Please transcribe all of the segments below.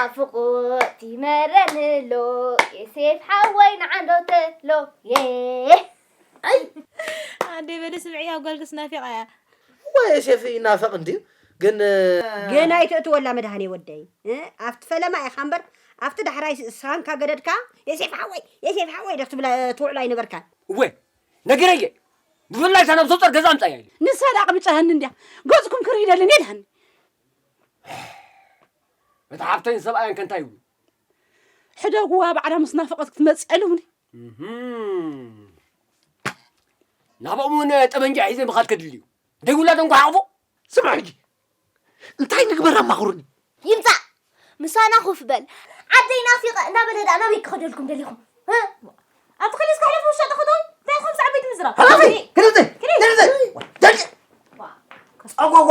ናፍቆት ይመረኒሎ ዮሴፍ ሓወይ ንዓንዶተሎ ኣደይ በሊ ስምዕያ ጓልክስ ናፊቓ እያ ወይ ዮሴፍ ይናፈቕ እንድዩ ግን ገና ኣይትእትወላ መድሃኔ ወደይ ኣብቲ ፈለማ ኢኻ እምበር ኣብቲ ዳሕራይ ሳንካ ገደድካ የሴፍ ሓወይ የሴፍ ሓወይ ዶ ክትብላ ትውዕሉ ኣይነበርካን እወ ነገረየ ብፍላይ እታ ናብ ሶፀር ገዛ ኣምፃያ ኢሉ ንሳ ዳኣ ቅብፀሀኒ እንድያ ገፅኩም ክርኢ ደሊ እኔ ድሃኒ እቲ ሓፍተይን ሰብኣየን ከ እንታይ ይብሉ ሕደጉዋ ባዕላ ምስ ናፈቐት ክትመፅእ ኣለውኒ ናብኦም እውን ጠበንጃ ሒዘ ምኻድ ከድሊ እዩ ደይ ውላዶም ክሓቕፉ ስምዑ ሕጂ እንታይ ንግበር ኣማኽሩኒ ይምፃእ ምሳና ኮፍ በል ዓደይ ናፊቐ እናበለ ደኣ ናበይ ክኸደልኩም ደሊኹም ኣብቲ ክልስ ክሕለፉ ውሻ ጠኸቶን እንታይ ኢኹም ሳዕ ቤት ምዝራብ ክልብዘይ ክልብዘይ ደቂ ጸጓጓ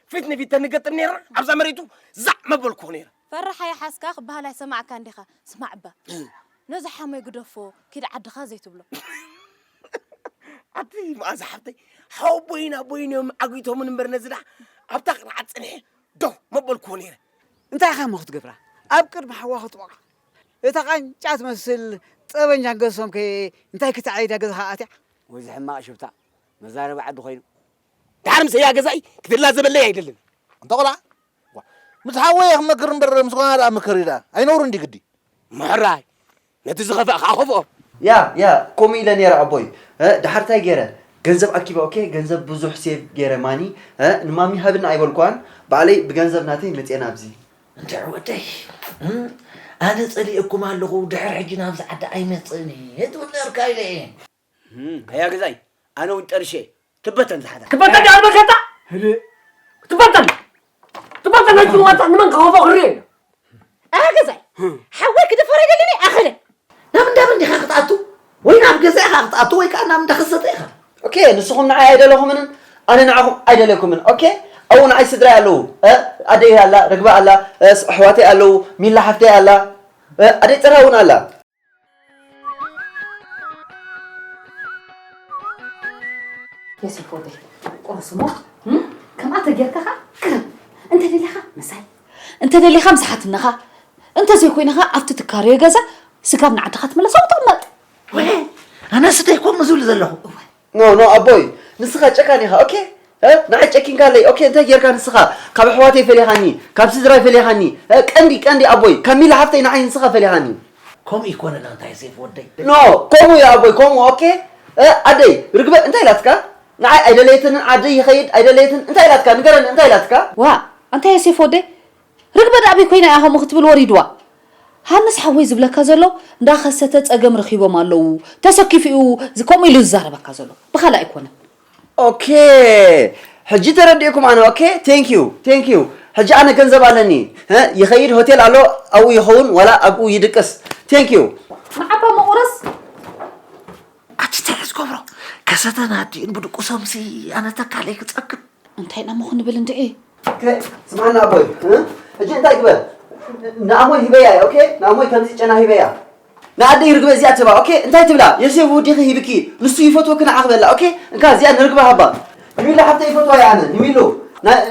ፊት ንፊት ተንገጥም ነይርና ኣብዛ መሬቱ ዛዕ መበልኩ ነይረ። ፈራሓ ይሓዝካ ክበሃል ኣይሰማዕካን ዲኻ? ስማዕ'ባ ነዚ ሓሞይ ግደፎ ኪድ ዓድኻ ዘይትብሎ። ኣቲ መኣዛ ሓብተይ ሓወቦይን ኣቦይን እዮም ዓጊቶምን እምበር ነዚ ደኣ ኣብታ ቅርዓት ጽንሐ ደው መበልኩዎ ነይረ። እንታይ ኢኻ እሞ ክትገብራ ኣብ ቅድሚ ሓዋ ክትወቕዓ? እታ ቃንጫ ትመስል ጠበንጃ ገሶም ከ እንታይ ክተዕይዳ ገዛኻ ኣትያ? ወይዚ ሕማቕ ሽፍታ መዛረቢ ዓዲ ኮይኑ። ድሓር ምስ ህያ ገዛኢ ክድላ ዘበለይ ኣይደልን። ኣንታ ቆልዓ ምስ ሓወይ እየ ክመክር እምበር ምስ ጓና ደኣ ምከሪ ደኣ ኣይነውርን ድዩ ግዲ። ምሕራይ ነቲ ዝኸፍኣ ከኣ ከፍኦ። ያ ያ ኮምኡ ኢለ ነይረ ኣቦይ ድሓር ታይ ገይረ ገንዘብ ኣኪበ ኦኬ ገንዘብ ብዙሕ ሴቭ ገይረ ማኒ ንማሚ ሃብኒ ኣይበልኩዋን ባዕለይ ብገንዘብ ናተይ መፅየ ናብዚ። እንተ ኣሕወተይ ኣነ ፀሊኤኩም ኣለኹ ድሕር ሕጂ ናብዚ ዓዲ ኣይመፅእን እየ ትብል ነርካ ኢለ እየ። ኣያ ገዛይ ኣነ እውን ጠርሸ ትበተን ዝሓዛ ትበተን ዳኣ መከታ ትበተን ትበተን ናይ ፅልዋታ ንመን ክኸፎ ክርኢ ኣያ ገዛይ ሓወይ ክድፈረ ይደልኒ ኣኸለ ናብ እንዳ መንዲኻ ክትኣቱ ወይ ናብ ገዛ ኢኻ ክትኣቱ ወይ ከዓ ናብ እንዳ ክሰተ ኢኻ ኦኬ ንስኹም ንዓይ ኣይደለኹምንን ኣነ ንዓኹም ኣይደለኩምን ኦኬ ኣብኡ ንዓይ ስድራይ ኣለዉ ኣደይ ኣላ ርግባ ኣላ ኣሕዋተይ ኣለዉ ሚላ ሓፍተይ ኣላ ኣደይ ፀራ እውን ኣላ የሱፍ ወደይ ቁርስ እሞ ከምኣ ተጌርካ ኸዓ ቅረብ እንተደሊኻ ምሳይ እንተደሊኻ ምስ ሓትነኻ እንተዘይኮይነ ኸዓ ኣብቲ ትካረዮ ገዛ ስጋብ ንዓድኻ ትመለስ ኣብኡ ትቕመጥ ኣነስ እንታይ ኮም ዝብል ዘለኹ ኖ ኖ ኣቦይ ንስኻ ጨካን ኢኻ ኦኬ እ ንዓይ ጨኪንካለይ ኦኬ እንታይ ጌርካ ንስኻ ካብ ኣሕዋተይ ፈሊኻኒ ካብ ስድራይ ፈሊኻኒ እ ቀንዲ ቀንዲ ኣቦይ ካብ ሚሊ ሓፍተይ ንዓይ ንስኻ ፈሊኻኒ ከምኡ ኣይኮነን ኣንታይ ሴፍ ወደይ። ኖ ከምኡ እዩ ኣቦይ ከምኡ ኦኬ እ ኣደይ ርግበ እንታይ ኢላትካ ንዓይ ኣይደለየትንን ዓደይ ይኸይድ ኣይደለየትን እንታይ ኢላትካ ንገረኒ እንታይ ኢላትካ። ዋእ ኣንታይ ሴፍ ወደይ ርግበ ዳኣበይ ኮይና እያ ከምኡ ክትብል ወሪድዋ ሃንስ ሓወይ ዝብለካ ዘሎ እንዳ ከሰተ ጸገም ረኪቦም ኣለዉ ተሰኪፉ እዩ ከምኡ ኢሉ ዝዛረበካ ዘሎ ብካልእ ኣይኮነን። ኦኬ ሕጂ ተረዲእኩም ኣነ ኦኬ ቴንኪው ቴንኪው ሕጂ ኣነ ገንዘብ ኣለኒ ህ ይኸይድ ሆቴል ኣሎ ኣብኡ ይኸውን ዋላ ኣብኡ ይድቅስ ቴንኪው። ንዓባ መቑረስ። ኣቲ ታይ ዝገብሮ ከሰተን ኣዲኡን ብድቁሶምሲ ኣነ ተካለይ ክፀግብ እንታይ ናሞ ክንብል እንድዒ ስማና ኣቦይ እጂ እንታይ ግበር ንኣሞይ ሂበያ እየ ኦኬ ንኣሞይ ከምዚ ጨና ሂበያ ንኣደይ ርግበ እዚኣ ትህባ ኦኬ እንታይ ትብላ የሴብ ውዲኺ ሂብኪ ንሱ ይፈትወኪ ንዓኺ በላ ኦኬ እንካ እዚኣ ንርግበ ሃባ ንሚላ ሓፍተይ ይፈትዋ እየ ኣነ ንሚሉ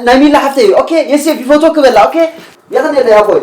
ናይ ሚላ ሓፍተይ እዩ ኦኬ የሴብ ይፈትወኪ በላ ኦኬ የኽንየለይ ኣቦይ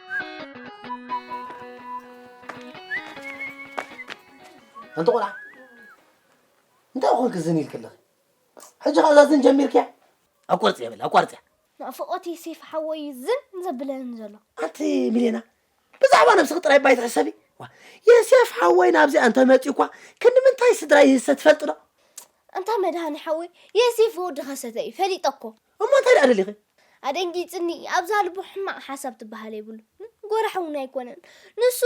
ኣንቲ ቆልዓ እንታይ ኮንክ ዝን ኢልክ ኣለኺ ሕጂ ከዛ ዝን ጀሚርክያ ኣቋርፅ እያ በል ኣቋርፅ እያ ናፍቆት ሴፍ ሓወይ ዝን ዘብለኒ ዘሎ ኣንቲ ሚሌና ብዛዕባ ነብስኺ ጥራይ ባይ ትሕሰቢ የሴፍ ሓወይ ናብዚ እንተ መፅኡ እኳ ክንዲ ምንታይ ስድራ ይህሰ ትፈልጥ ዶ እንታ መድሃኒ ሓወይ የሴፍ ወዲ ከሰተ እዩ ፈሊጠ እኮ እሞ እንታይ ደኣ ደሊኺ? ኣደንጊጽኒ ኣብዛ ልቡ ሕማቅ ሓሳብ ትበሃል የብሉን ጎራሕ ውን ኣይኮነን ንሱ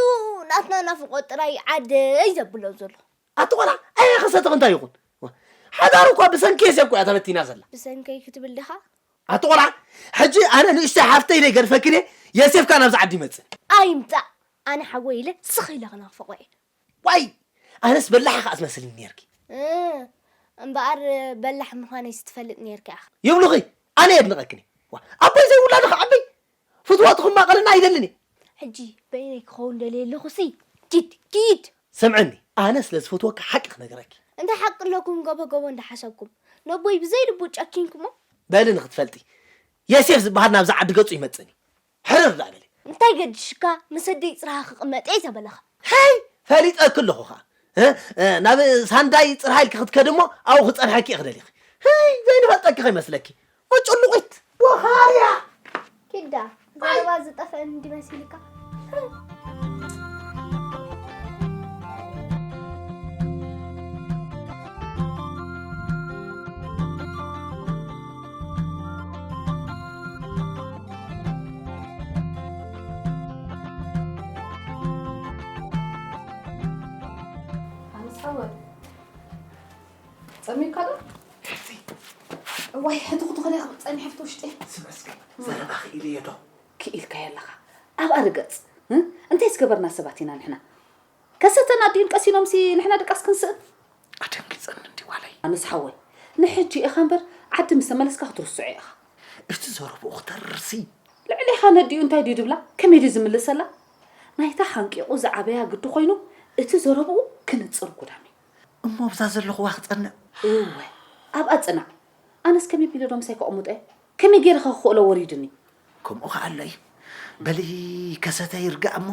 ናትና ናፍቆት ጥራይ ዓደይ ዘብሎ ዘሎ። ኣቲ ቆልዓ ኣየ ክሰትኺ እንታይ ይኹን ሓዳሩ እኳ ብሰንኪ የሴፍ እኮ እያ ተበቲና ዘላ። ብሰንከይ ክትብል ድኻ? ኣቲ ቆልዓ ሕጂ ኣነ ንእሽተይ ሓፍተይ ኢለ ይገድፈክን እየ የሴፍ ከኣ ናብዚ ዓዲ ይመጽእ። ኣይምጻእ ኣነ ሓወይ ኢለ ስኽ ኢለ ክናፍቆ እየ ዋይ ኣነስ በላሕ ኢኻ ትመስልኒ ኔርኪ። እህ እምበኣር በላሕ ምዃነይስ ትፈልጥ ኔርኪ ኣኻ። ይብሉኺ ኣነ የድንቐክን እየ። ዋእ ኣቦይ ዘይውላዱ ክዓብይ ፍትወቱ ክማቐለኒ ኣይደልን እየ። ሕጂ በይነይ ክኸውን ደልየ ኣለኹሲ ኪድ ኪድ። ስምዕኒ ኣነ ስለ ዝፈትወኪ ሓቂ ክነግረኪ። እንታይ ሓቂ ኣለኩም ገቦ ገቦ እንዳሓሰብኩም ነቦይ ብዘይ ልቡ ጨኪንኩሞ። በሊ ንኽትፈልጢ የሴፍ ዝበሃል ናብዛ ዓዲ ገጹ ይመጽእን እዩ። ሕርር ደኣ በሊ። እንታይ ገዲሽካ ምስ ኣደይ ጽርሃ ክቅመጥ'የ ዘበለኻ። ሄይ ፈሊጠኪ ኣለኹ ከኣ እ ናብ ሳንዳይ ጽርሃ ኢልኪ ክትከዲ እሞ ኣብኡ ክጸንሐኪ እየ ክደሊኺ ሄይ ዘይንፈልጠኪ ከይመስለኪ ወጭሉቒት ወኻርያ። ኪዳ ዘረባ ዝጠፍአን እንዲ መሲልካ። ጸሚካ ዶ እዋይ ሕትኹቱ ከደ ካብ ጸኒሐፍቲ ውሽጢ ስመስገ ዘረባ ክኢልየ ዶ ክኢልካዮ ኣለኻ ኣብኣ ርገጽ እንታይ ዝገበርና ሰባት ኢና ንሕና ከሰተና ዲዩን ቀሲኖምሲ ንሕና ድቃስ ክንስእን። ኣደንጊጸኒ እንድዩ ዋለይ። ኣነስ ሓወይ ንሕጂ ኢኻ እምበር ዓዲ ምስ ተመለስካ ክትርስዖ ኢኻ። እቲ ዘረብኡ ክተርርሲ። ልዕሌኻ ነዲኡ እንታይ ድዩ ድብላ ከመይ ድዩ ዝምልሰላ ናይታ ሓንቂቑ ዝዓበያ ግዲ ኮይኑ እቲ ዘረብኡ ክንጽር ጉዳምዩ። እሞ ኣብዛ ዘለኹዋ ክጸንዕ። እወ ኣብኣ ጽናዕ ኣነስ ከመይ ቢለ ዶ ምሳይ ከቕሙጠ። ከመይ ገይረ ከ ክኽእሎ ወሪዱኒ። ከምኡ ከኣ ኣሎ እዩ። በሊ ከሰተ ይርጋእ እሞ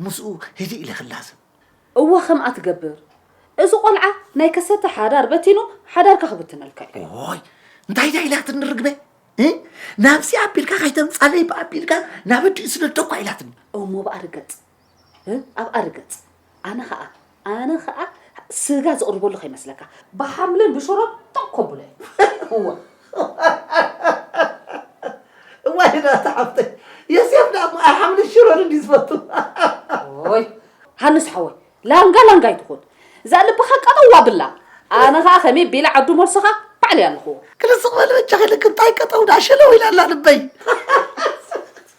ምስኡ ህድእ ኢለ ክላዘብ። እወ ከምኣ ትገብር። እዚ ቆልዓ ናይ ከሰተ ሓዳር በቲኑ ሓዳርካ ክብትነልካ እዩ። እዎይ እንታይ ድያ ኢላትኒ ርግበ እ? ናብዚ ኣቢልካ ከይተምጻለይ ብኣቢልካ ናብ ኣዲኡ ስደዶ እኳ ኢላትኒ። እሞ ብኣ ርገጽ። ኣብኣ ርገጽ ኣነ ከኣ ኣነ ከኣ ስጋ ዝቕርበሉ ከይመስለካ ብሓምልን ብሽሮን ቶኽ ከብሎ እየ እወ እዋይ ናታ ሓፍተይ የስየፍ ደኣ እሞ ኣይሓምልን ሽሮን እንዲ ዝፈቱ ኦይ ሃንስ ሓወይ ላንጋ ላንጋ ኣይትኹን እዛ ልብኻ ቀጠዋ ብላ ኣነ ከኣ ከመይ ቢለ ዓዱ መልስኻ ባዕለይ ኣለኹዎ ክልስቕ በል በጃኺ ልክ እንታይ ቀጠው ዳኣ ሸለው ኢላ ኣላ ልበይ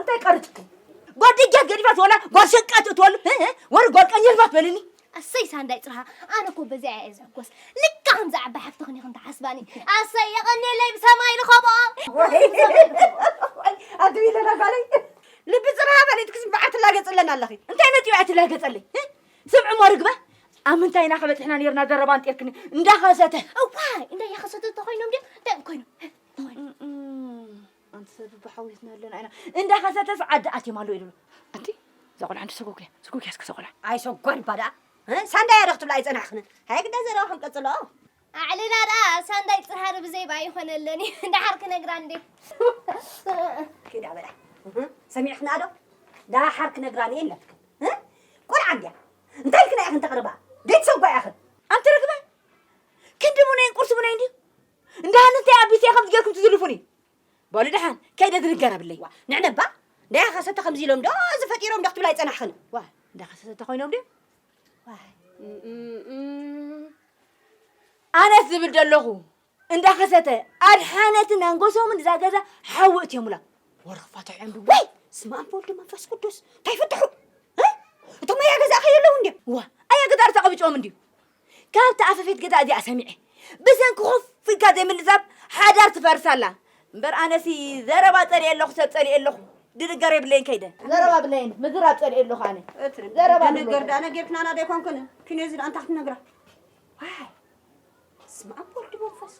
እንታይ ቀርጽኩ ጎድጀት ገዲፋት ወላ ጓል ሸቃት እትወሉ ወር ጓል ቀንጀልባት በልኒ ኣሰይ ሳንዳይ ጽርሃ ኣነ እኮ በዚኣ እየ ዝሕጎስ ልካ ከምዚ ዓባይ ሓፍትኽን ኢኽን ትሓስባኒ ኣሰይ የቐኒለይ ብሰማይ ንኸቦ ኣድቢ ኢለና ጓለይ ልቢ ጽርሃ በሊት ክስም በዓል ትላገጽለን ኣለኺ እንታይ መጺኡ እያ ትላገጸለይ ስምዑ እሞ ርግበ ኣብ ምንታይ ኢና ከበጽሕና ነርና ዘረባ እንጤርክኒ እንዳኸሰተ እዋይ እንዳ ያኸሰተ ተኾይኖም ድዮም እንታይ ኮይኖም ኣንቲ ሰብ ብሓውየትና ኣለና ኢና እንዳኸሰተስ ዓዲ ኣትዮም ኣለዉ ኢሉ ኣንቲ እዛ ቆልዓ እንዲ ሰጎግያ ሰጎግያ እስከ እዛ ቆልዓ ኣይ ሰጓን እባ ደኣ ሳንዳይ ኣረ ክትብላ ኣይጸናሕክንን ሃይ ግዳ ዘረባኹም ቀጽሎ ኣዕልና ደኣ ሳንዳይ ጽሃር ብዘይባ ኣይኾነለን እዩ ደሓር ክነግራ እንዴ ኪዳ በላ ሰሚዕክና ዶ ደሓር ክነግራ እየ ኣለትክን ቆልዓ እንድያ እንታይ ክና ኢኽን ተቕርባ ቤተሰብ ጓ ኢኽን ኣንቲ ርግበ ክንዲ ሙነይን ቁርሲ ሙነይ እንድዩ እንዳ ሃንንተይ ኣቢሰ ከምዚ ጌርኩም ትዝልፉኒ በሉ ደሓን ከይደ ዝንገር ኣብለይ ዋ ንዕነባ እንዳያ ከሰተ ከምዚ ኢሎም ዶ እዚ ፈጢሮም ዶ ክትብላ ይጸናሕኽን ዋ እንዳ ከሰተ ተኾይኖም ድዮም ኣነስ ዝብል ዘለኹ እንዳ ከሰተ ኣድሓነትን ኣንጎሶምን እዛ ገዛ ሓዊ እትዮምላ ወረፋቶ ዕምቢ ወይ ስመ ኣብ ወልድ መንፈስ ቅዱስ እንታይ ፍትሑ እቶም ኣያ ገዛ ከየለዉ እንድዮም ዋ ኣያ ገዛ ርተቐብጭዎም እንድዩ ካብታ ኣፈፌት ገዛ እዚኣ ሰሚዐ ብሰንኪ ኮፍ ኢልካ ዘይምልዛብ ሓዳር ትፈርስ ኣላ እምበር ኣነሲ ዘረባ ጸሊኤ ኣለኹ ሰብ ጸሊኤ ኣለኹ ድንገር የብለይን ከይደ ዘረባ ብለይን ምዝራብ ጸሊኤ ኣለኹ ኣነ እትሪ ዘረባ ድንገር ድኣ ነጊርክናና ዶ ኣይኮንክን ክንዚ ድኣ እንታይ ክትነግራ ዋይ ስመ ኣብ ወልድ መንፈስ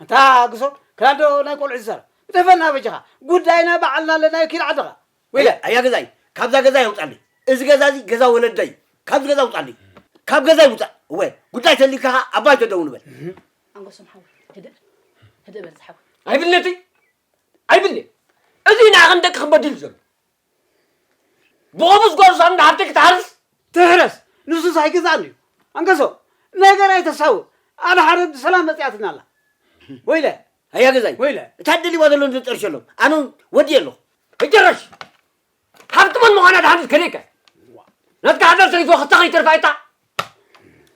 ኣንታ ግሶ ክላእ ዶ ናይ ቆልዑ ዝዛረብ ግደፈና በጃኻ ጉዳይና ባዕልና ኣለናዮ ኪድ ዓድኻ ዊለ። ኣያ ገዛይ ካብዛ ገዛይ ኣውጻኒ እዚ ገዛ እዚ ገዛ ወለደይ እዩ ካብዚ ገዛ ኣውጻኒ ካብ ገዛይ ውጻእ እወ ጉዳይ ተልዩካ ከኣ ኣብ ባይቶ ደው ንበል ኣንጎሶም ሓወይ ህድእ ህድእ በል ዝሓወይ ኣይብልነተይ ኣይብልነ እዚ ንዓኽን ደቅኽን በዲሉ ዘሎ ብቑሙስ ጎርዞ እንዳ ሃብቲ ክትሃርስ ትሕረስ ንሱስ ኣይግዛእን እዩ ኣንገሶ ነገር ኣይተሳውእ ኣድሓረት ብሰላም መጺኣትና ኣላ ወይለ ኣያ ገዛይ ወይለ እታ ደሊዋ ዘሎ ንጠርሸሎም ኣነ እውን ወዲየ ኣለኹ እጀረሽ ሃብቲ መን ምዃና ድሓንስ ከሪእከ ናትካ ሓዳር ሰሪትዎ ክልተ ከይተርፋ ኣይታ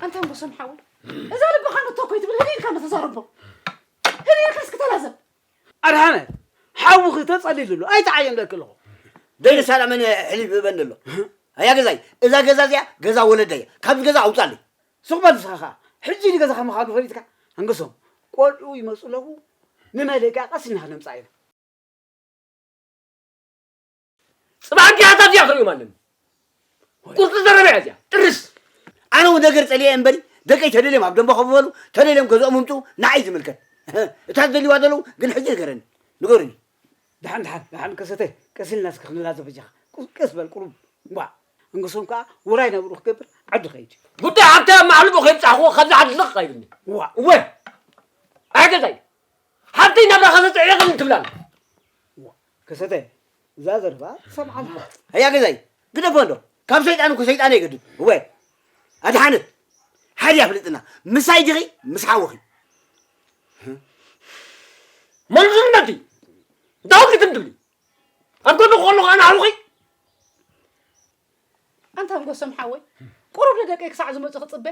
ኣንተ ኣንጎሶን ሓወይ እዛ ልብኻ ንቶ ኮይ ትብል ህድኢልካ ንተዛረቦ ህድኢልካ እስክተላዘብ ኣድሓነ ሓውኺ ተጸሊሉ ኣሎ ኣይትዓየን ደቂ ኣለኹ። ደቂ ሳላ መን ሕሊፍ ህበን ዘሎ ኣያ ገዛይ እዛ ገዛ እዚኣ ገዛ ወለደይ እያ ካብዚ ገዛ ኣውጻለይ ስቕ በል ንስኻ ከኣ ሕጂ ንገዛኻ ምዃኑ ፈሊጥካ ኣንግሶም ቆልዑ ይመጹ ኣለዉ ንመደቃቐሲ ኢና ክነምጽኣ ኢና ጽባሕ ዲያታ እዚኣ ክርእዮም ኣለኒ ቁርጢ ዘረባ እያ እዚኣ ጥርስ ኣነ እውን ነገር ጸልየ እምበሪ ደቀይ ተደልዮም ኣብ ደንበ ከብበሉ ተደልዮም ገዝኦም ምምጡ ንዓይ ዝምልከት እታ ዝደልይዋ ዘለዉ ግን ሕጂ ንገረኒ ንገሩኒ ድሓን ድሓን ድሓን ከሰተ ቀስ ኢልና እስከ ክንላዘብ በጃኻ ቀስ በል ቁሩብ እንኳ እንግሶም ከዓ ውራይ ነብሩ ክገብር ዓዱ ከይድ ጉዳይ ሃብታ ማዕልቦ ከይብፃሕዎ ካብዚ ዓዲ ልቕ ኣይብልኒ እዋ እወ ኣይገዛይ ሓብተይ ናብራ ከሰተ ዕቕን ትብላል ከሰተ እዛ ዘረባ ትሰምዓ ኣለኻ ኣያ ገዛይ ግደፎ ኣሎ ካብ ሰይጣን እኮ ሰይጣን ኣይገድን እወ ኣድሓነት ሓዲ ኣፍልጥና ምሳይ ዲኺ ምስ ሓውኺ መልሱነት እዩ ዳው ክትምድሊ ኣብ ጎኒ ክኾኑ ከዓ ንሓውኺ ኣንታ ንጎሶም ሓወይ ቁሩብ ንደቀይ ክሳዕ ዝመፁ ክፅበ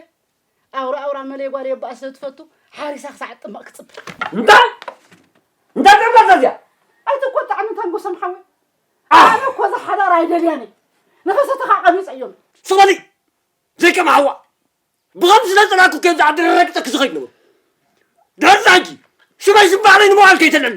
ኣውራ ኣውራ መለይ ጓል የባኣ ስለ ትፈቱ ሓሪሳ ክሳዕ እትጥመቕ ክጽበ እንታይ እንታይ ጥርመት እዚኣ ኣይትቆጣዕኒ ታንጎሰም ሓወይ ኣነ እኮ እዛ ሓዳር ኣይደልያን እየ ንኸሰተኻ ቀቢፀ እዮም ስበሊ ዘይከም ሓዋ ብኸም ስለ ፅላኩ ከምዚ ዓዲ ረረግፀ ክዝኸይድ ነብሩ ደርዛጊ ሽበይ ዝባዕለይ ንምባል ከይተለሉ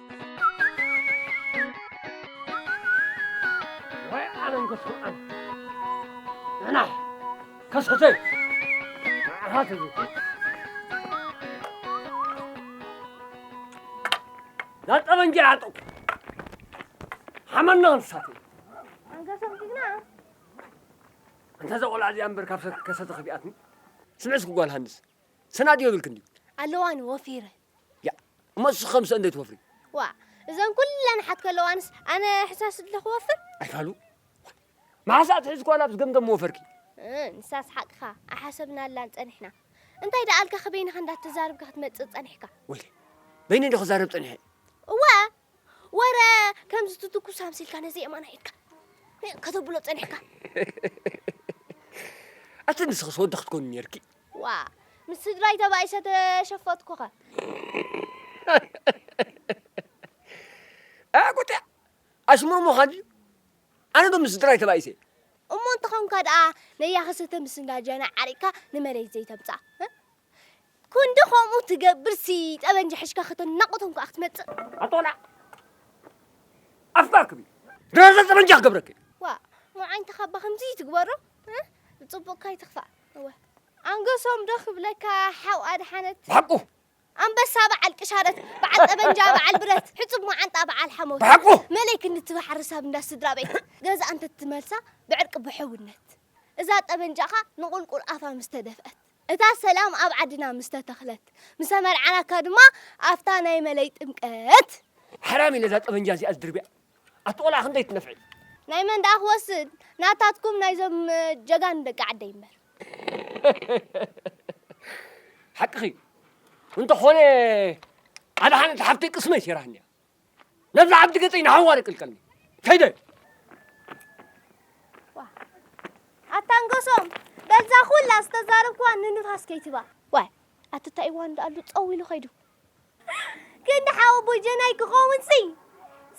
ወይ ዓለም ክስምዐን ንሕና ከሰተይ ንዓኻ ትብል ላጠበንጃ ያጠው ሓመና እንስሳት ኣንገሶም ጅግና እንተ ዘቆልዓ እዚኣ እምበር ካብ ሰብ ከሰተ ከቢኣትኒ ስምዕስ ክጓል ሃንስ ሰናድ የብልክ እንዲ ኣለዋኒ ወፊረ ያእ እሞ ንስኺ ከ ምስአን ዶ ትወፍሪ? ዋእ እዘን ኩለን ኣሓት ከለዋንስ ኣነ ሕሳስ ድለ ክወፍር? ኣይካሉ መዓስ ዳኣ ትሕዚ ጓል ኣብዝ ገምገም ምወፈርኪ? እ ንሳስ ሓቅኻ ኣይሓሰብናላን ጸኒሕና። እንታይ ዳኣልካ ከበይንኻ እንዳተዛርብካ ክትመጽእ ጸኒሕካ? ወይለይ በይነይ ዶ ክዛረብ ጸኒሐ? እወ ወረ ከምዚ ትትኩስ ኣምሲልካ ነዚ የማና ኢድካ ከተብሎ ጸኒሕካ ኣቲ ንስኽስ ወዲ ክትኮኒ ነርኪ ዋ ምስ ስድራይ ተባኢሰ ተሸፈትኩኸ ኣቁጥዕ ኣሽሙር ምዃን ድዩ ኣነ ዶ ምስ ስድራይ ተባኢሰ እሞ እንተኾንካ ደኣ ነያ ክሰተ ምስ እንዳጃና ዓሪቅካ ንመሬት ዘይተምጻእ ክንዲ ከምኡ ትገብርሲ ጠበንጃ ሒሽካ ከተናቑቶም ከኣ ክትመጽእ። ኣቶላ ኣፍካ ኣክቢ ድራዛ ጠበንጃ ክገብረኪ። ዋ ሞዓኝ ተኻባ ከምዚ ትግበሮ ጽቡቕ ካይትኽፋእ እወ ኣንገሶም ዶ ክብለካ ሓው ኣድሓነት ብሓቁ ኣንበሳ በዓል ቅሻረት በዓል ጠበንጃ በዓል ብረት ሕጹብ መዓንጣ በዓል ሓሞት ብሓቁ መለይ ክንዲ ትባሕሪ ሳብ እንዳ ስድራ ቤት ገዛ እንተ ትመልሳ ብዕርቂ ብሕውነት እዛ ጠበንጃኻ ንቑልቁል ኣፋ ምስ ተደፍአት እታ ሰላም ኣብ ዓድና ምስ ተተኽለት ምሰ መርዓናካ ድማ ኣፍታ ናይ መለይ ጥምቀት። ሓራሚ ነዛ ጠበንጃ እዚኣ ዝድርብያ ኣቲ ቆልዓ ክንደይ ትነፍዒ። ናይ መን ደኣ ክወስድ ናታትኩም ናይዞም ጀጋኑ ደቂ ዓደይ እምበር። ሓቅኺ እዩ እንተኾነ ኣድሓነት ሓፍተይ ቅስመይ ሰይራትኒ እያ። ነዚ ዓብዲ ገጸይ ንሓዋሪ ቅልቀልኒ ከይደ ኣታንገሶም በዛ ኩላ ዝተዛረብክዋ ንንፋስ ከይትባ ዋይ ኣቲ እንታይ እዋን ዳኣሉ ፀው ኢሉ ከይዱ ግን ሓው ቦጀናይ ክኸውን ሲ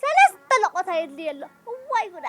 ሰለስተ ለቆታ የድልየ ኣሎ እዋይ ጉዳ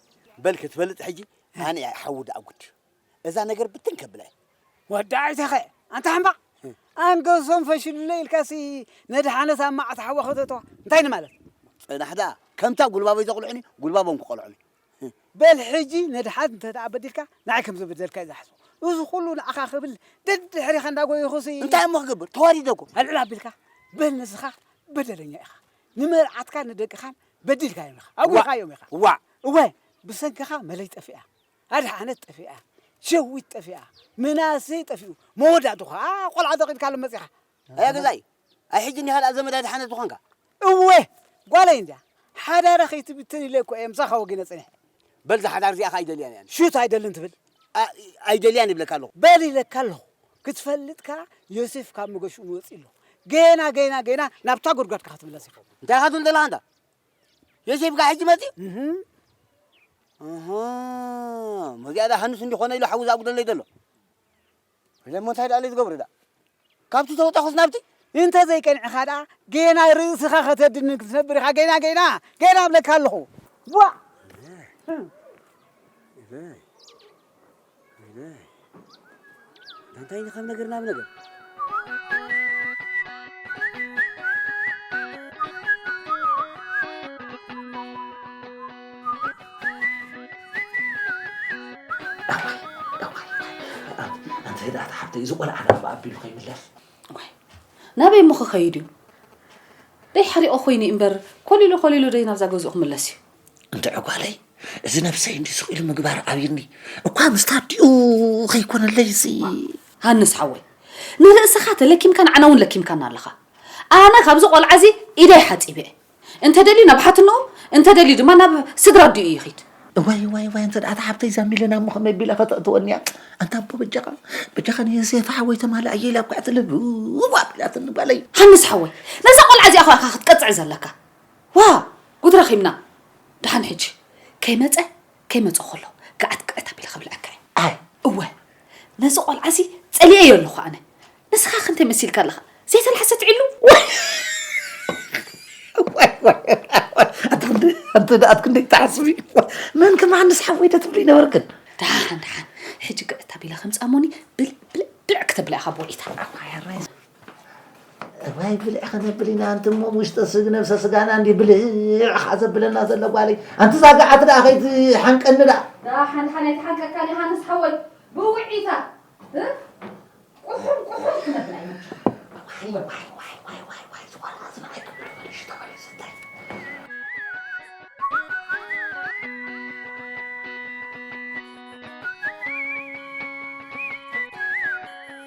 በል ክትበልጥ ሕጂ ኣነ እየ ሓዊ ደኣ ጉድ እዛ ነገር ብትን ከብላ እየ ወዲ ኣይተኸ ኣንታ ሕማቕ ኣንገሶም ፈሽሉለይ ኢልካሲ መድሓነት ኣብ መዓት ሓዋ ከተተዋ እንታይ ንማለት ጽናሕ ደኣ ከምታ ጉልባበይ ዘቕልዑኒ ጉልባቦም ክቐልዑኒ በል ሕጂ ነድሓት እንተ ደኣ በዲልካ ንዓይ ከም ዝበደልካ እዩ ዝሓስቦ እዚ ኩሉ ንዓኻ ክብል ደድሕሪኻ እንዳጎየኹሲ እንታይ እሞ ክገብር ተዋሪደ እኮ ኣልዕል ኣቢልካ በል ንስኻ በደለኛ ኢኻ ንመርዓትካን ንደቅኻን በዲልካዮም ኢኻ፣ ኣጒኻዮም ኢኻ። ዋእ! እወ፣ ብሰንክኻ መለይ ጠፊኣ፣ ኣድሓነት ጠፊኣ፣ ሸዊት ጠፊኣ፣ ምናሴ ጠፊኡ፣ መወዳእትኡ ኸኣ ቈልዓ ተኺልካሎም መጺኻ። ኣያ ገዛኢ፣ ኣይ ሕጂ እንዲኻ ደኣ ዘመድ ኣድሓነት ዝኾንካ? እወ፣ ጓለይ እንድያ፣ ሓዳራ ከይትብትን ኢለ እኮ እየ ምሳኻ ወጊነ ጸኒሐ። በል እዛ ሓዳር እዚኣ ኸኣ ኣይደልያን እየ ኣነ። ሽቶ ኣይደልን ትብል? ኣይ ኣይደልያን ይብለካ ኣለኹ። በል ኢለካ ኣለኹ፣ ክትፈልጥ ከኣ ዮሴፍ ካብ መገሽኡ መወጺኡ ኣሎ። ገና ገና ገና ናብታ ጉድጓድካ ክትምለስ ኢኹም። እንታይ ኢኻ ትብል ዘለኻ ኣንታ? ዮሴፍ ከኣ ሕጂ መጺኡ መዚኣ ዳ ሃንስ እንዲኾነ ኢሉ ሓዊ ዝኣጉደለይ ዘሎ ኢለ እሞ እንታይ ደኣ ኢለ ዝገብሮ ደኣ ካብቲ ተወጣኹስ ናብቲ እንተ ዘይቀንዕኻ ደኣ ገና ርእስኻ ከተድንን ክትነብር ኢኻ ገና ገና ገና እብለካ ኣለኹ ዋ እንታይ ኢኻ ነገር ናብ ነገር ኣንተ ደኣ ተሓብተይ እዚ ቆልዓ ናብ ኣቢሉ ከይምለስ ናበይ እሞ ክኸይድ እዩ ደይ ሓሪቆ ኮይኑ እምበር ኮሊሉ ኮሊሉ ደይ ናብዛ ገዝኡ ክምለስ እዩ እንድዒ ጓለይ እዚ ነብሰይ እንዲ ስቕ ኢሉ ምግባር ኣብዩኒ እኳ ምስቲ ኣዲኡ ከይኮነለይ እዚ ሃንስ ሓወይ ንርእስኻ ተለኪምካ ንዓና እውን ለኪምካና ኣለኻ ኣነ ካብዚ ቆልዓ እዚ ኢደይ ሓጺበ እየ እንተደልዩ ናብ ሓትንኡ እንተደልዩ ድማ ናብ ስድራ ኣዲኡ ይኺድ እዋይ እዋይ እዋይ እንተ ኣታ ሓብተይ እዛ ሚለና እሞ ከመይ ቢላ ከተእትወኒ እያ ኣንታ ኣቦ በጃኻ በጃኻ ንዮሴፍ ሓወይ ተማልኣየ ኢላ ኳዕትልብዋ ቢላትኒ ጓለይ ሃንስ ሓወይ ነዛ ቆልዓ እዚኣ ኸ ክትቀጽዕ ዘለካ ዋእ! ጉድ ረኺብና! ደሓን ሕጂ ከይመጸ ከይመጸ ከሎ ገዓት ቅዕት ኣቢለ ከብልዐካ እየ። ኣይ! እወ! ነዚ ቆልዓ'ዚ ጸሊኤዮ ኣለኹ ኣነ። ንስኻኸ እንታይ መሲልካ ኣለኻ? ዘይተላሕሰት ዒሉ? ዋይ! ዋይ! ኣንተ ደኣ ክንደይ ትሓስቢ? መን ከማንስ ሓወይ ዶ ትብሊ ነበርክን? ደሓን ደሓን ሕጂ ግዕት ኣቢለ ከምጻ እሞኒ ብልዕ ብልዕ ብልዕ ክተብላ ኢኻ ብወሊታ። ኣዋይ ኣራይ! እዋይ ብልዕ ክነብል ኢና ኣንቲ እሞ ውሽጠ ስግ ነብሰ ስጋና እንዲ ብልዕ ኸዓ ዘብለና ዘሎ ጓለይ ኣንቲ ዛጋዓት ደኣ ከይትሓንቀኒ ደኣ ደኣ ሓንሓን ኣይትሓንቀካ ዮሃንስ ሓወይ ብውዒታ ቁሑም ቁሑም ክነብል ኣይመቸን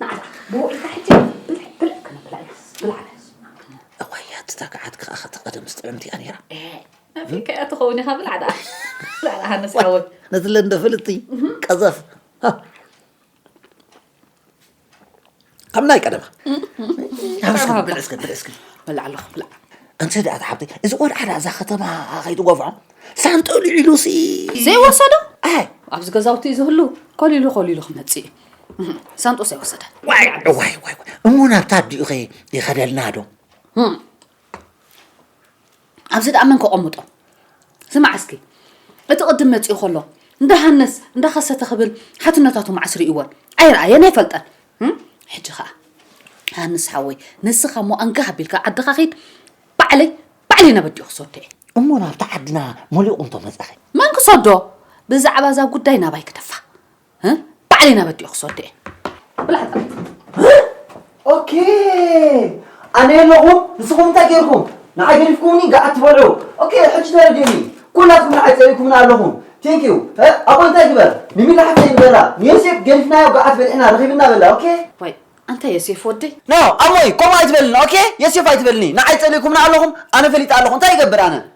ንዓና ብውዕልካ ሕጂ ብልዕ ብልዕ ክንብላ ኢና ብልዓና እዋያት እታ ገዓት ከኣ ከቲ ቀደምስ ጥዕምቲ እያ ነይራ ኣብይ ከኣ ትኸውን ኢኻ ብልዕ ደኣ ብልዕ ደኣ ሃነስ ሓወይ ነቲ ለንደ ፍልጥቲ ቀዘፍ ከም ናይ ቀደማ ጥዕማ ብልዕ እስከ ብልዕ እስከ ብልዕ ኣለኹ ብልዕ እንተ ደኣ ተሓብቲ እዚ ቆልዓ ደኣ እዛ ከተማ ከይትጎፍዖ ሳንጠሉ ኢሉሲ ዘይወሰዶ ኣይ ኣብዚ ገዛውቲ ዝህሉ ኮሊሉ ኮሊሉ ክመጽእ እዩ ሳንጦስ ኣይወሰደ ዋይ ዋይ ዋይ እሞ ናብታ ኣዲኡኸ ይኸደልና ዶ ኣብዚ ደኣ መን ከቐምጦ ስማዕ እስኪ እቲ ቅድም መፂኡ ከሎ እንዳሃነስ እንዳኸሰተ ክብል ሓትነታቱ ማዕስ ርእይዎን ኣይረኣየን ኣይፈልጠን ሕጂ ከዓ ሃንስ ሓወይ ንስኻ እሞ ኣንጋ ኣቢልካ ዓድኻ ኺድ ባዕለይ ባዕለይ ናብ ኣዲኡ ክሰዶ እየ እሞ ናብቲ ዓድና መሊቑ እንቶ መፀኸ መን ክሰዶ ብዛዕባ እዛ ጉዳይ ናባይ ክደፋ ባዕለይ ናበዲኦ ክሰዶ እየ ኦኬ ኣነ ኣለኹም ንስኹም እንታይ ገይርኩም ንዓይ ገዲፍኩምኒ ገዓት ትበልዑ ኦኬ ሕጂ ተረዲኡኒ ኩላትኩም ንዓይ ፀሪእኩምና ኣለኹም ቴንክ ዩ ኣቦ እንታይ ግበር ንሚላ ሓፍተይ ንገራ ንዮሴፍ ገዲፍናዮ ገዓት በልዕና ረኺብና በላ ኦኬ ወይ ኣንታ ዮሴፍ ወደይ ኖ ኣሞይ ከምኡ ኣይትበልኒ ኦኬ ዮሴፍ ኣይትበልኒ ንዓይ ፀሪእኩምና ኣለኹም ኣነ ፈሊጠ ኣለኹ እንታይ ይገብር ኣነ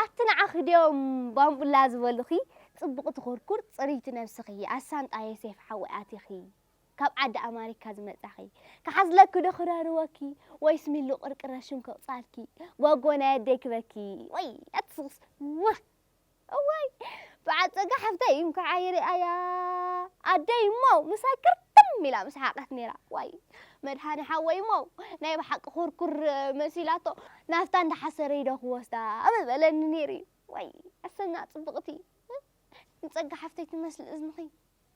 ኣቲ ንዓኺ ድዮም ባምቡላ ዝበሉኺ ጽቡቕቲ ኩርኩር ጽርይቲ ነብስኺ ኣሳንጣየ ሴፍ ሓወይ ኣቲኺ ካብ ዓዲ ኣማሪካ ዝመጻኺ ክሓዝለኪ ዶ ክረርወኪ ወይስ ሚሉ ቅርቅረ ሽም ከውጻልኪ ጎጎ ናይ ኣደይ ክበኪ ወይ ኣቲ ስክስ ዋህ እዋይ በዓል ጸጋ ሓፍተይ እንኳዕ ኣይርኣያ ኣደይ እሞ ምሳይ ክርትም ኢላ ምስ ሓቀት ነይራ ዋይ መድሃኒ ሓወይ እሞ ናይ ብሓቂ ኩርኩር መሲላቶ ናፍታ እንዳሓሰረይ ዶ ክወስዳ ኣበ በለኒ ነይሩ እዩ ወይ ኣሰና ጽብቕቲ ንጸጋ ሓፍተይ ትመስል እዝንኺ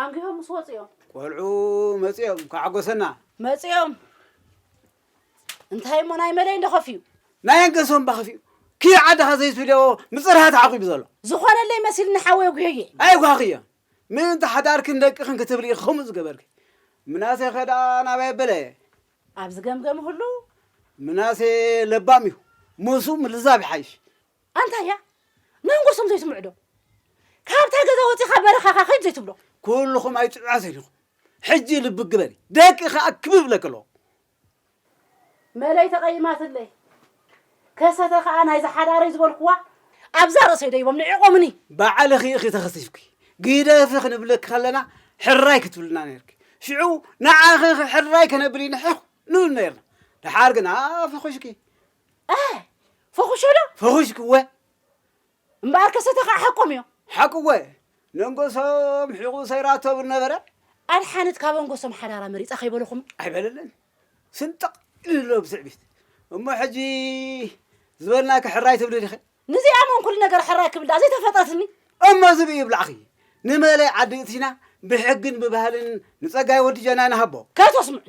ኣንጊሆም ምስ ወጹ እዮም። ቆልዑ መጺኦም እንኳዕ ሓጎሰና። መጺኦም እንታይ እሞ ናይ መለይ እንዶ ከፍዩ። ናይ ኣንገሶም እባ ከፍዩ። ክይ ዓድኻ ዘይትብልዮ ምጽርሃ ተዓቂቡ ዘሎ። ዝኾነለይ መሲልኒ ሓወይ ኣጉህየ። ኣይጓኽዮ ምእንቲ ሓዳርክን ደቅኽን ክትብሊ ኢኺ ከምኡ ዝገበርኪ። ምናሴ ከ ደኣ ናበይ ኣበለ? ኣብ ዝገምገም ህሉ። ምናሴ ለባም እዩ ምስኡ ምልዛብ ይሓይሽ። ኣንታይ እያ መንጎሶም ዘይስምዑ ዶ ካብታ ገዛ ወጺኻ በረኻኻ ኺድ ዘይትብሎ ኩልኹም ኣይጥዑያትን ኢኹም ሕጂ ልቢ ግበሪ ደቂ ከኣ ክብ ይብለኪ ኣለዎ መለይ ተቐይማትለይ ከሰተ ከኣ ናይዛ ሓዳረይ ዝበልኩዋ ኣብዛ ርእሰይ ደይቦም ንዒቖምኒ ባዕልኺ ኢኺ ተኸሲፍኪ ግደፊ ክንብለኪ ከለና ሕራይ ክትብልና ነርኪ ሽዑ ንዓኺ ሕራይ ከነብል ይንሕኽ ንብል ነርና ደሓር ግና ፈኹሽኪ ፈኹሸዶ ፈኹሽክወ እምበኣር ከሰተ ከዓ ሓቆም እዮም ሓቅወ ነንጎሶም ሒቑ ሰይራቶ ብል ነበረ ኣድሓነት ካብ ኣንጎሶም ሓዳራ መሪፃ ከይበለኹም ኣይበለለን ስንጥቕ ኢሉሎ ብትዕቢት እሞ ሕጂ ዝበልናኪ ሕራይ ትብሊ ዲኺ ንዚኣ መን ኩሉ ነገር ሕራይ ክብል ድኣ ዘይተፈጠትኒ እሞ ዝብኢ ይብላዕኺ ንመለይ ዓዲ እትሽና ብሕግን ብባህልን ንፀጋይ ወዲ ጀና ንሃቦ ከይተስምዑኒ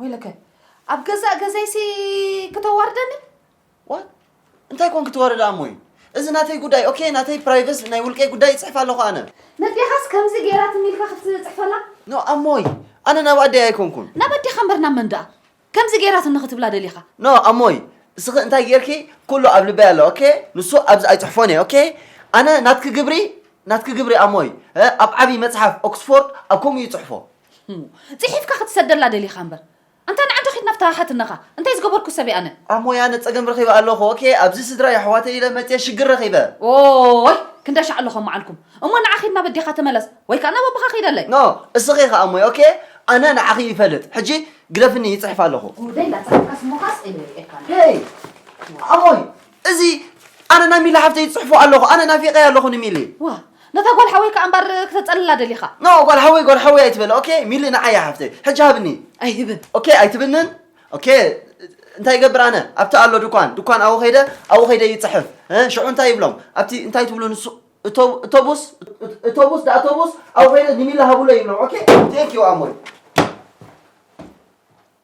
ወይለከ ኣብ ገዛእ ገዛይሲ ክተዋርደኒ ዋ እንታይ ኮን ክትወርድ ኣሞይ እዚ ናተይ ጉዳይ ኦኬ ናተይ ፕራይቨስ ናይ ውልቀይ ጉዳይ ይፅሕፍ ኣለኹ ኣነ ነዴኻስ ከምዚ ገይራትኒ ኢልካ ክትፅሕፈላ ኖ ኣሞይ ኣነ ናብ ኣደይ ኣይኮንኩን ናብ ኣዴኻ እምበር ናብ መን ደኣ ከምዚ ገይራትኒ ክትብላ ደሊኻ ኖ ኣሞይ እስኺ እንታይ ጌርኪ ኩሉ ኣብ ልበይ ኣሎ ኦኬ ንሱ ኣብዚ ኣይፅሕፎን እየ ኦኬ ኣነ ናትኪ ግብሪ ናትኪ ግብሪ ኣሞይ ኣብ ዓብዪ መፅሓፍ ኦክስፎርድ ኣብ ከምኡ ይፅሕፎ ጺሒፍካ ክትሰደላ ደሊኻ እምበር ኣንታ ንዓ እንዶ ኪድ ናብታ ሓትነኻ እንታይ ዝገበርኩ ሰብ እየ ኣነ። ኣሞይ ኣነ ጸገም ረኺበ ኣለኹ ኦኬ ኣብዚ ስድራ የሕዋተይ ኢለ መጽየ ሽግር ረኺበ። ኦይ ክንደይ ሻዕ ኣሎ ከማዓልኩም እሞ ንዓ ኪድ ናብ ኣዴኻ ተመለስ ወይ ከኣ ናብ ኣቦኻ ኪደለይ። ን እስኺ ከኣ ኣሞይ ኦኬ ኣነ ንዓኺ ይፈልጥ ሕጂ ግደፍኒ ይጽሕፍ ኣለኹ። ጉደይ ላጻሕፍካስ እሞኻስ እየ ሪኤካ ነይረ። ሄይ ኣሞይ እዚ ኣነ ናይ ሚሊ ሓፍተይ ዝጽሕፎ ኣለኹ ኣነ ናፊቀያ ኣለኹ ንሚሊ። ዋ ነታ ጓል ሓወይ ከኣ እምበር ክተጸልላ ደሊኻ። ኖ ጓል ሓወይ ጓል ሓወይ ኣይትበል ኦኬ ሚሊ ንዓይ እያ ሓፍተይ ሕጂ ሃብኒ። ኣይህብን። ኦኬ ኣይትብንን ኦኬ እንታይ ይገብር ኣነ ኣብቲ ኣሎ ድኳን ድኳን ኣብኡ ከይደ ኣብኡ ከይደ ይጽሕፍ እ ሽዑ እንታይ ይብሎም ኣብቲ እንታይ ትብሉ ንሱ እቶ እቶቡስ እቶቡስ ዳ እቶቡስ ኣብኡ ከይደ ንሚሊ ሃብሎ ይብሎም ኦኬ ቴንክ ዩ ኣሞይ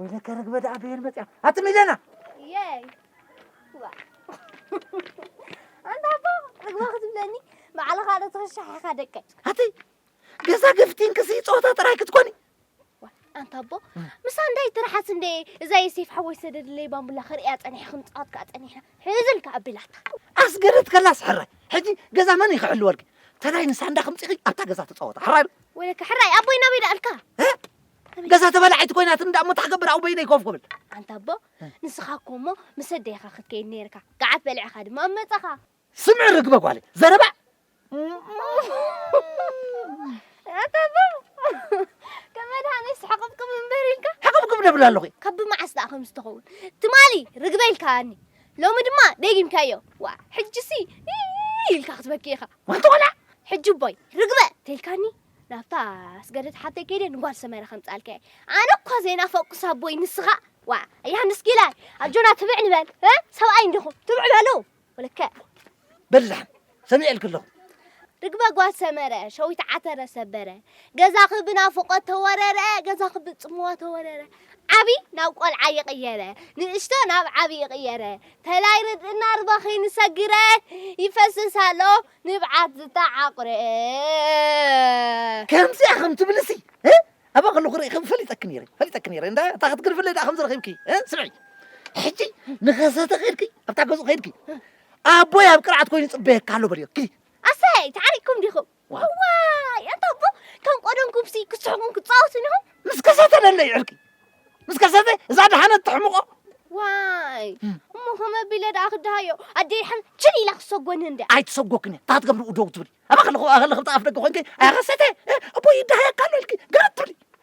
ወይለከ ርግበ ደኣ በየን መፅያ ኣቲ ሚለና የይ ኣንታ ኣቦ ርግባ ክትብለኒ ባዕልኻ ዶ ትኽሻሕ ኢኻ ደቀይ ኣቲ ገዛ ገፍቲን ክሲ ፀወታ ጥራይ ክትኮኒ ኣንታ ኣቦ ምስ ኣንዳይ ትርሓስ እንደ እዛ የሴፍ ሓወይ ሰደድለይ ባምቡላ ክርእያ ፀኒሐ ክንፃወት ከዓ ፀኒሕና ሕዝልካ ኣቢላታ ኣስገደት ከላስ ሕራይ ሕጂ ገዛ መን ይክሕልወልኪ ተላይ ንሳንዳ ክምፅኺ ኣብታ ገዛ ተፃወታ ሕራይ ወይለካ ሕራይ ኣቦይ ናበይ ደኣልካ ገዛ ተበላዒት ኮይናት እንዳ እሞ ታክገብር ኣው በይነይ ኮፍ ክብል ኣንታ ኣቦ ንስኻ እኮ እሞ ምስ ኣደይኻ ክትከይድ ነይርካ ገዓት በሊዕኻ ድማ ኣብ መጻኻ ስምዒ ርግበ ጓለይ ዘረባ ኣንታ ኣቦ ከም መድሃኒ ስሕቕብቅብ እምበር ኢልካ ሕቕብቅብ ደብል ኣለኹ ካብ ብመዓስ ደኣ ከም ዝተኸውን ትማሊ ርግበ ኢልካኒ ሎሚ ድማ ደጊምካዮ ዋ ሕጅሲ ኢልካ ክትበኪ ኢኻ ዋንታ ቆልዓ ሕጂ እቦይ ርግበ ተልካኒ ናብታ ኣስገደት ሓብተይ ከይደ ንጓል ሰመረ ከምጻልካየ ኣነ እኳ ዘይናፈቅኩስ ኣቦይ ንስኻ ዋዕ ኣያንስ ጊላ ኣጆና ትብዕ ንበል ሰብኣይ እንዲኹም ትብዕ በሉ ወለከ በላሕ ሰሚዐልክ ኣለኹ ርግበ ጓል ሰመረ ሸዊት ዓተረ ሰበረ ገዛኺ ብናፍቆት ተወረረ ገዛኺ ብጽምዋ ተወረረ ዓቢ ናብ ቆልዓ ይቕየረ ንእሽቶ ናብ ዓቢ ይቕየረ ተላይ ርድእና ርበኺኒ ሰጊረ ይፈስስ ኣሎ ንብዓት ዝተዓቑረ ከምዚኣ ከም ትብልሲ እ? ኣባ ከለኹ ርኢኺ ፈሊጠኪ ነይረ ፈሊጠኪ ነይረ እንዳ እታ ክትግርፍለይ ደኣ ከም ዝረኺብኪ እ? ስምዒ ሕጂ ንኸሰተ ከይድኪ ኣብታ ገዝኡ ከይድኪ ኣቦይ ኣብ ቅርዓት ኮይኑ ይጽበየካ ኣሎ በልዮ ኪዲ ኣሰይ ተዓሪቕኩም ዲኹም ዋዋይ ኣታ ኣቦ ከም ቆደምኩምሲ ክስሕቁን ክፃወቱን ኢኹም ምስ ከሰተ ደለይ ዕርቂ ምስ ከሰተ እዛ ድሓነት ትሕምቆ ዋይ እሞ ከም ኣቢለ ደኣ ክደሃዮ ኣደይ ሓን ችል ኢላ ክሰጎኒ እንደ ኣይትሰጎክን እያ ታት ገብርኡ ደው ትብሊ ኣባ ከለኹ ከለኽብቲ ኣፍ ደገ ኮንኪ ኣያኸሰተ እቦ ይደሃየካ ኣሎ ኢልኪ ገረ ትብሊ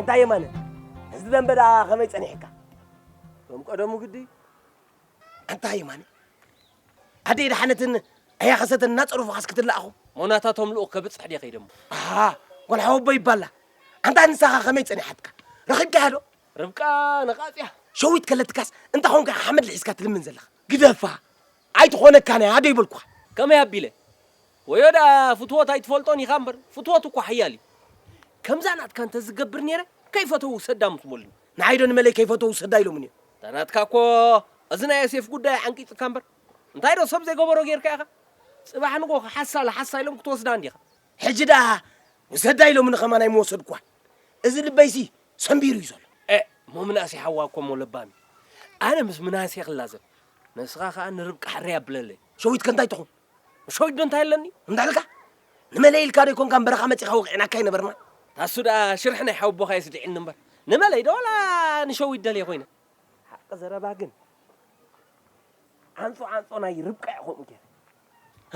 እንታይ የማነ እዚ ደንበ ደኣ ከመይ ጸኒሕካ ከም ቀደሙ ግዲ ኣንታ የማነ ኣደይ ደሓነትን ኣያ ከሰተን እናጸሩፉኻስ ክትለኣኹ ሞናታቶም ልኡኽ ከብጽሕ ድየ ከይደሞ ኣሃ ጓል ሓወቦ ይባላ ኣንታ ንሳኻ ከመይ ጸኒሓትካ ረኺብካያ ዶ ርብቃ ነቓጽያ። ሸዊት ከለትካስ እንታይ ኾንካ ኢኻ ሓመድ ልሒስካ ትልምን ዘለኻ? ግደፋ ኣይትኾነካን እያ ዶ ይበልኩኻ። ከመይ ኣቢለ? ወዮ ደኣ ፍትወት ኣይትፈልጦን ኢኻ እምበር ፍትወት እኳ ሓያል እዩ። ከምዛ ናትካ እንተ ዝገብር ነይረ ከይፈተው ውሰዳ ምስ በሉኒ። ንዓይ ዶ ንመለይ ከይፈተው ውሰዳ ኢሎምኒ እዮም? እታ ናትካ እኮ እዚ ናይ ዮሴፍ ጉዳይ ዓንቂጹካ እምበር እንታይ ዶ ሰብ ዘይገበሮ ጌርካ ኢኻ? ጽባሕ ንግሆ ከሓሳ ለሓሳ ኢሎም ክትወስዳ እንዲኻ። ሕጂ ደኣ ውሰዳ ኢሎምኒ ከማን ኣይምወሰድኩዋን። እዚ ልበይሲ ሰምቢሩ እዩ ዘሎ። ኤእ እሞ ምናሴ ሓዋ እኮ እሞ ለባም እዩ። ኣነ ምስ ምናሴ ክላዘብ ንስኻ ከኣ ንርብቃ ሕርይ ኣብለለይ። ሸዊት ከ እንታይ ትኹን? ንሸዊት ዶ እንታይ ኣለኒ እንድሕልካ ንመለይ ኢልካ ዶ ኣይኮንካን በረኻ መጺኻ ወቒዕናካ ኣይነበርናን? ታሱ ደኣ ሽርሒ ናይ ሓወቦኻ የስዲዕኒ እምበር ንመለይ ዶ ዋላ ንሸዊት ደልየ ኮይነ። ሓቂ ዘረባ ግን ዓንጾ ዓንጾ ናይ ርብቃ እየ ከምኡ ገይረ።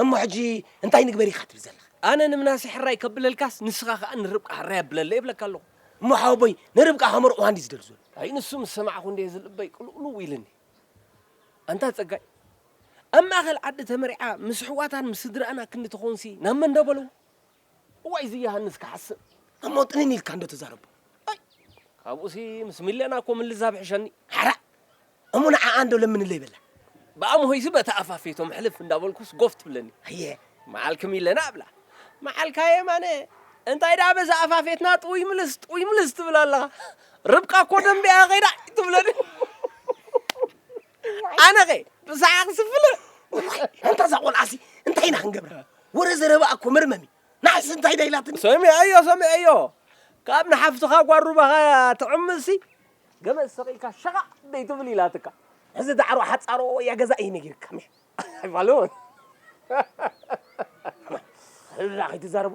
እሞ ሕጂ እንታይ ንግበር ኢኻ ትብል ዘለኻ? ኣነ ንምናሴ ሕራይ ከብለልካስ ንስኻ ከኣ ንርብቃ ሕራይ ኣብለለይ እብለካ ኣለኹ። እሞ ሓወቦይ ንርብቃ ከመርቕዋ እንድዩ ዝደሊ ዘሎ። ኣይ ንሱ ምስ ሰማዕኩ እንድየ ዝልበይ ቅልውልው ኢልኒ። ኣንታ ጸጋይ ኣብ ማእከል ዓዲ ተመሪዓ ምስ ኣሕዋታን ምስ ስድራኣን ኣክንዲ ትኸውንሲ ናብ መን ዶ በልዎ? እዋይ እዚ የሃንስ ክሓስም እሞ ጥንን ኢልካ እንዶ ተዛረቦ ኣይ ካብኡሲ ምስ ሚለና እኮ ምልዛብ ሕሸኒ ሓራእ እሞ ንዓኣ እንዶ ለምንለይ በላ ብኣምሆይሲ በታ ኣፋ ፌቶም ሕልፍ እንዳበልኩስ ጎፍ ትብለኒ ኣየ መዓልኪ ሚለና እብላ መዓልካ የማነ እንታይ ደኣ በዛ ኣፋ ፌትና ጥውይ ምልስ ጥውይ ምልስ ትብል ኣለኻ ርብቃ እኮ ደንቢኣ ከይዳ ትብለኒ ኣነኸ ብሰሓቕ ስፍለ እንታ እዛ ቆልዓሲ እንታይ ኢና ክንገብራ ወረ ዘረባ እኮ መርመሚ ንዓይሲ እንታይ ዳ ኢላትኒ ሰሚዐዮ ሰሚዐዮ ካብ ንሓፍትኻ ጓል ሩባኻ ትዕምሲ ገመድ ሰቒልካ ሸቓቕ ደይትብል ኢላትካ ሕዚ ዳዕሮ ሓፃሮ እያ ገዛ እየ ነጊርካ ምሕ ኣይፋለዎን ሕራ ከይትዛረቡ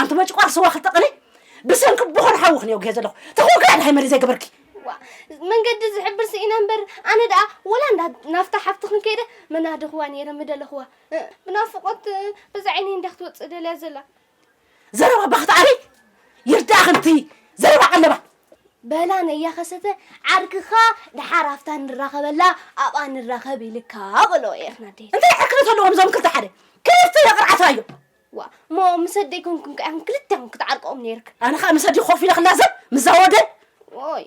ኣንቲ መጭቋር ስዋ ክልተ ቅኔ ብሰንኪ ብኾር ሓዊ ክንየጉሄ ዘለኹ ተኾክራ ድሃይ መሪ ዘይገበርኪ መንገዲ ዝሕብር ስኢነ እምበር ኣነ ደኣ ወላ እንዳ ናፍታ ሓፍቲ ክንከይደ መናድኽዋ ነይረ ምደለኽዋ ብናፍቆት በዛ ዓይነይ እንዳ ክትወፅእ ደልያ ዘላ ዘረባ ባኽቲ ዓሪ ይርዳእ ክንቲ ዘረባ ቀለባ በላ ነያ ከሰተ ዓርክኻ ድሓር ኣፍታ ንራኸበላ ኣብኣ ንራኸብ ኢልካ በሎ ኤኽናዴ እንታይ ሕክነት ኣለዎም እዞም ክልተ ሓደ ክፍቲ የቕርዓታ እዮም ዋእ እሞ ምስ ኣደይ ኮንኩም ከ ኢኹም ክልቴኹም ክትዓርቅኦም ነይርክ። ኣነ ከኣ ምስ ኣደይ ኮፍ ኢለ ክላዘብ ምዛ ወደ ኦይ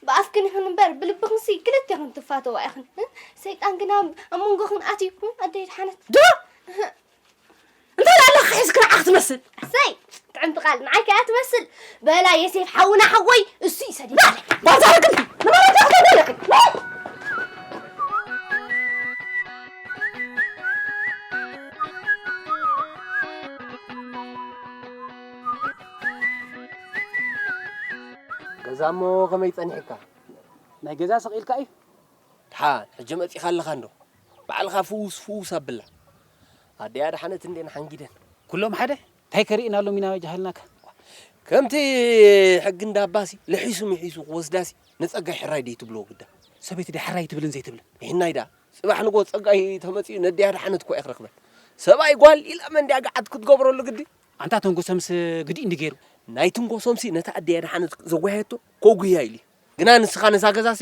ብኣፍክን ይኹን እምበር ብልብኽንሲ ክልቴኽን ትፋተዋ ኢኽን። ሰይጣን ግና ኣብ መንጎኽን ኣትዩ ኣደይ ድሓነት ዶ እንታይ ኣላ ክሒዝክ ንዓ ክትመስል ኣሰይ ጥዕምቲ ቃል ንዓይ ከኣ ትመስል በላ የሴፍ ሓውና ሓወይ እሱ እዩ ሰዲድ ባዛርግን ንመረጃ ክተደለክን ገዛ እሞ ከመይ ጸኒሕካ ናይ ገዛ ሰቂልካ እዩ ድሓ ሕጂ መጺኻ ኣለኻ እንዶ ባዕልኻ ፍውስ ፍውስ ኣብላ ኣደያ ድሓነት እንዴን ሓንጊደን ኩሎም ሓደ ታይ ከሪኢናሎም ኢና ጃሃልናከ። ከምቲ ሕጊ እንዳባሲ ልሒሱ ምሒሱ ክወስዳሲ ንጸጋይ ሕራይ ድዩ ትብልዎ ግዳ። ሰበይቲ ድያ ሕራይ ትብልን ዘይትብልን? ሒናይ ድኣ ጽባሕ ንግሆ ጸጋይ ተመጺኡ ነዲይ ኣድሓነት እኮ ኣይክረክበን። ሰብኣይ ጓል ኢላ መን ድያ ግዓት ክትገብረሉ ግዲ። ኣንታ ተንጎሰምስ ግዲ እንዲ ገይሩ። ናይ ትንጎሶምሲ ነታ ኣዲይ ኣድሓነት ዘጓየየቶ ከጉህያ ኢሉዩ ግና ንስካ ነዛ ገዛሲ።